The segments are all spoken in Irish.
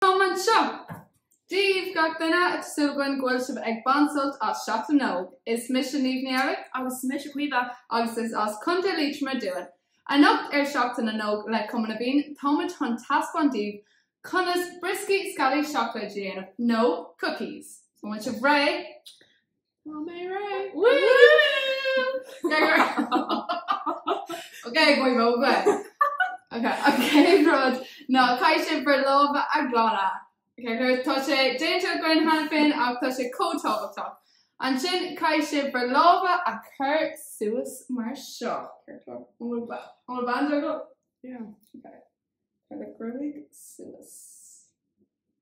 Táimid anseo. Dia daoibh, gach duine, tá súil againn go bhfuil sibh ag baint sult as Seachtain na nÓg. Is mise Niamh Ní Fhearraigh. Agus mise Caoimhe agus is as Contae Liatroma dúinn. Anocht ar Seachtain na nÓg le Cumann na bhFiann táimid chun taispeáint daoibh conas brioscaí sceallaí seacláid a dhéanamh, nó cookies. An bhfuil sibh réidh? Tá mé réidh! Ok, go maith. Ok, chéad rud ná caithfidh sibh bhur lámha a ghlanadh. Ok, so tá sé déanta againn cheana féin ach tá sé chomh tábhachtach. Ansin caithfidh sibh bhur lámha a chur suas mar seo. Céard tá? An bhfuil ba- an bhfuil banda agat? Yeah. Ok. Cuir do ghruaig suas.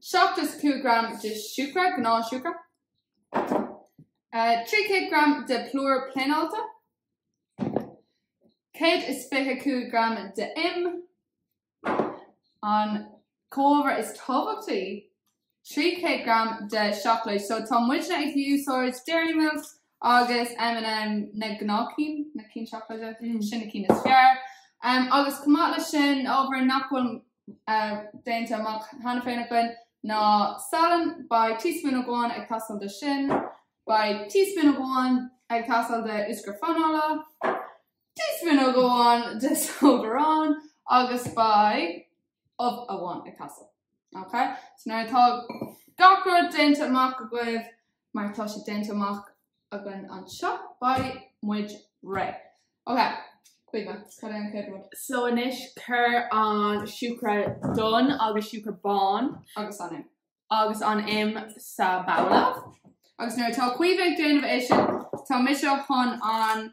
75 gram de siúcra, gnáthshiúcra, 300 gram de plúr pléineáilte, 125 gram de im, an comhábhar is tábhachtaí, 300 gram de seacláid. So tá muidne ag úsáid Dairy Milk agus M&M na gnáthchinn, na cinn seacláide, sin na cinn is fearr. Agus chomh maith leis sin, ábhar nach bhfuil meáite amach cheana féin againn ná salann, beidh teaspoon amháin ag teastáil de sin, beidh teaspoon amháin ag teastáil de úscra fanaile, teaspoon amháin de sóid aráin agus beidh ubh amháin ag teastáil. Nuair atá gach rud meáite amach agaibh, Mar tá sé meáite amach againn anseo. Beidh muid réidh. Ok, Caoimhe, cad é an chéad rud? So anois cuir an siúcra donn agus siúcra bán agus an im. agus an im sa babhla. Agus nuair atá Caoimhe ag déanamh é sin, tá mise chun an.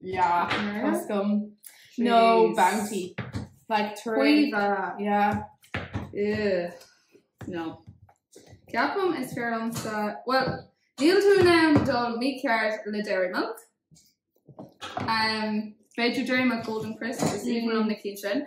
Yeah, go deimhin. Jeez. No, bounty. Like, tuairim. Caoimhe. Yeah. Ugh. No. Ceapaim is fearr liomsa, well, níl tú in ann dul mícheart le Dairy Milk. Um, B'fhéidir Dairy Milk Golden Crisp, is aoibhinn liom na cinn sin.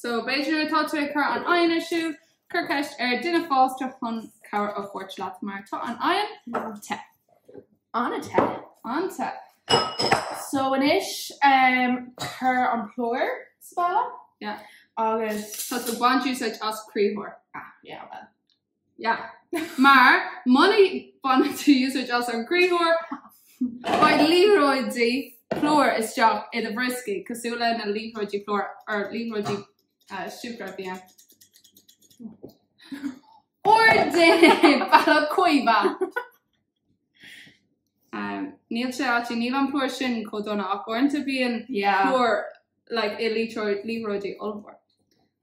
So b'fhéidir nuair atá tú ag cur an oigheann ar siúl, cuir ceist ar duine fásta chun cabhair a thabhairt leat mar tá an oigheann te. An-te. An-te. So anois um, cuir an plúr sa babhla. Yeah. Agus. Tá tú baint úsáid as criathar. Ah, yeah, well. Yeah. Mar, muna baineann tú úsáid as an gcriathóir, beidh liathróidí plúir istigh i do bhrioscaí, cosúil le na liathróidí plúir, nó liathróidí siúcra a bhíonn ar do bhealach, a Chaoimhe! Níl sé a- níl an plúr sin chomh dona ach uaireanta bíonn plúr i liathróid ollmhór.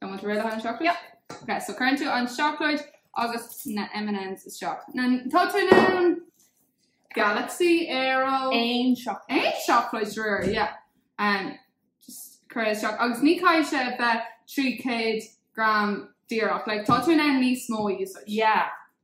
An bhfuil muid réidh le haghaidh an seacláid? Yep. Ok, so cuireann tú an seacláid agus na M&Ms isteach. Now, tá tú in ann Galaxy Aero. Aon seacláid. Aon seacláid sure, yeah. Um, just cuir isteach. Agus ní caithfidh sé bheith 300 gram díreach. Like, tá tú in ann níos mó a úsáid. Yeah.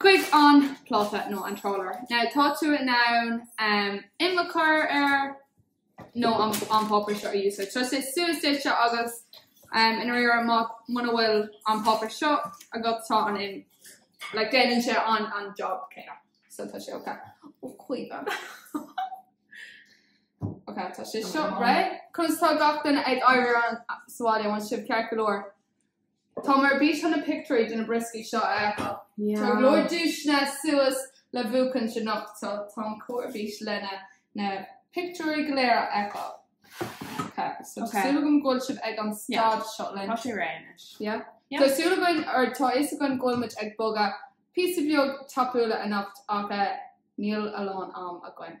chuig an pláta nó an tráidire. Now tá tú in ann im a chur air nó an páipéar seo a úsáid. Tá sé suas duitse agus i ndáiríre muna bhfuil an páipéar seo agat tá an im like déanann sé an an job céanna. So tá sé okay. Ó, a Chaoimhe. Okay, tá sé seo right? Conas tá gach duine ag éirí as sa bhaile? An bhfuil sibh ceart go leor? Táim ar bís chun na pictiúirí de na brioscaí seo a fheiceáil. Tá go leor duaiseanna suas le buachaint anocht so táim chomh ar bís le na pictiúirí go léir a fheiceáil. Ok, so tá súil agam go bhfuil sibh ag an staid seo linn. Tá sé réidh anois. Yeah? Yeah. Tá súil againn, or tá fhios againn go bhfuil muid ag bogadh píosa beag tapúil anocht ach eh níl a lán am againn.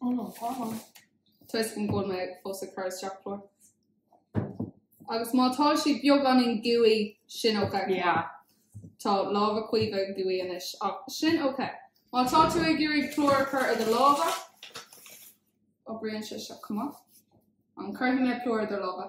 Oh no, tá an. Toisc go bhfuil mé fós ag cur isteach plúr. Agus má tá si beagán in gúi sin ok. Yeah. Tá lámha Caoimhe gooey anois ach sin ok. Má tá tú ag iarraidh plúr a chur ar do lámha, oibríonn sé seo chomh maith. An cuirfidh mé plúr ar do lámha?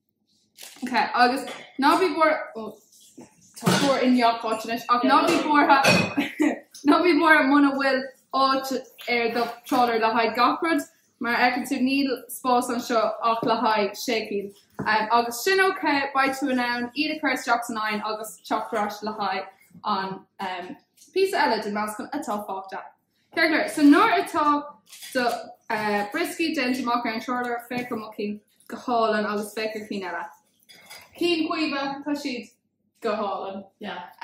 Ok, agus ná bí buar ó tá plúr i ngach áit anois ach ná bí buartha ná bí buartha muna bhfuil áit ar do trálaer le haghaidh gach rud mar a fheiceann tú níl spás anseo ach le haghaidh sé cinn agus sin ok beidh tú in ann iad a chur isteach san oigheann agus teacht ar ais le haghaidh an píosa eile den meascán atá fágtha. Ceart go leor, so nuair atá do brioscaí déanta amach ar an trálaer féach ar mo chinn go hálainn agus féach ar chinn eile. Cinn caoimhe, tá siad go hálainn.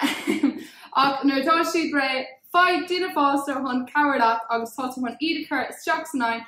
Ahem. Ach nuair atá siad réidh, faigh duine fásta chun cabhrú leat agus tá tú chun iad a chur isteach san oigheann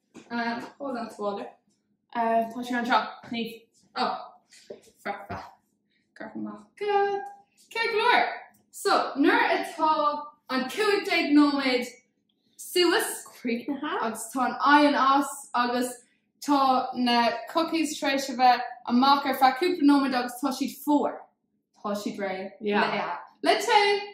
Tá sé anseo. Nuair atá an cúig déag nóiméad suas críochnaithe agus tá an oigheann as agus tá na Cookies tar éis a bheith amach ar feadh cúpla nóiméad agus tá siad fuar, tá siad réidh le tae.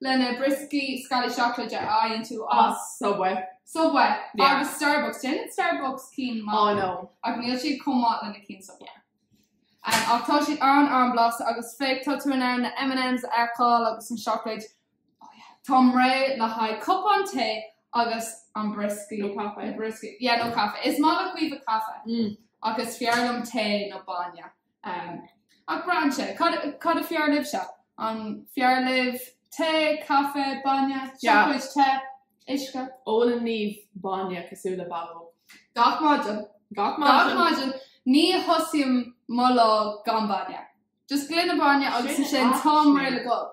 lena brioscaí sceallaí seacláide a fhaigheann tú as Subway. Subway yeah. agus Starbucks. Déanann Starbucks cinn maith. Oh no. Ach níl siad chomh maith lena cinn Subway. Um, ach tá siad an- an-blasta agus féach tá tú in ann na M&M's a fheiceáil agus an seacláid. Oh yeah. Táim réidh le haghaidh cupán tae agus an brioscaí. Nó caife. Brioscaí. Yeah, nó caife. Is maith le Caoimhe caife. Mm. Ach is fearr liom tae nó bainne. Ach braitheann sé, cad a fearr libhse? An fearr libh tae, caife, bainne, seacláid te, uisce? Ólann Niamh bainne cosúil le bábóg. Gach maidin. Gach maidin. Ní thosaím mo lá gan bainne. Just gloine bainne agus ansin táim réidh le dul.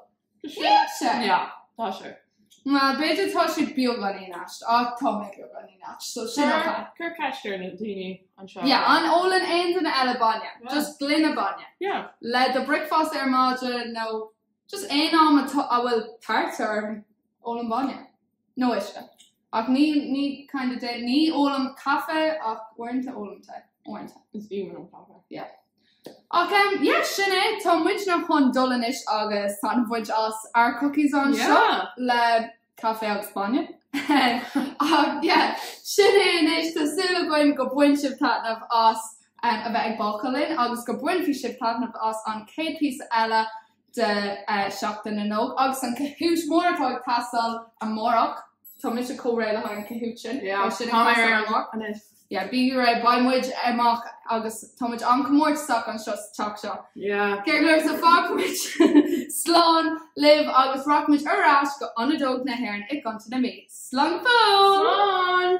Tá sé. Tá sé. Yeah, tá sé. Well, b'fhéidir tá sé beagáinín aisteach, ach tá mé beagáinín aisteach, so sin ok. Cuir ceist ar na daoine anseo. Yeah, an ólann aon duine eile bainne? Yeah. Just gloine bainne? Yeah. Le do bricfeásta ar maidin nó just aon am atá, a bhfuil tart orm, ólaim bainne. Nó uisce. Ach ní, ní, kind of de, ní ólaim caife ach uaireanta ólaim tae. Uaireanta. Is aoibhinn liom caife. Yeah. Ach em, yeah, sin é, tá muidne chun dul anois agus taitneamh a bhaint as ár cookies anseo Yeah! le caife agus bainne. Ach yeah, sin é anois, tá súil againn go bain sibh taitneamh as em, a bheith ag bácáil linn agus go mbainfidh sibh taitneamh as an chéad phíosa eile de Sheachtain na nÓg agus an Kahoot mór atá ag tarlú amárach. Tá mise chomh réidh le haghaidh an Kahoot sin. Yeah, Tá sin ag tá mé teastáil ar an amárach. anois. Yeah, bí réidh, beidh muid amach agus tá muid an-chomórtasach anseo sa teach seo. Yeah. Ceart go leor, so fágfaidh muid slán libh agus rachaidh muid ar ais go Ionad Óg na hÉireann i gContae na Mí. Slán go fóill! Slán!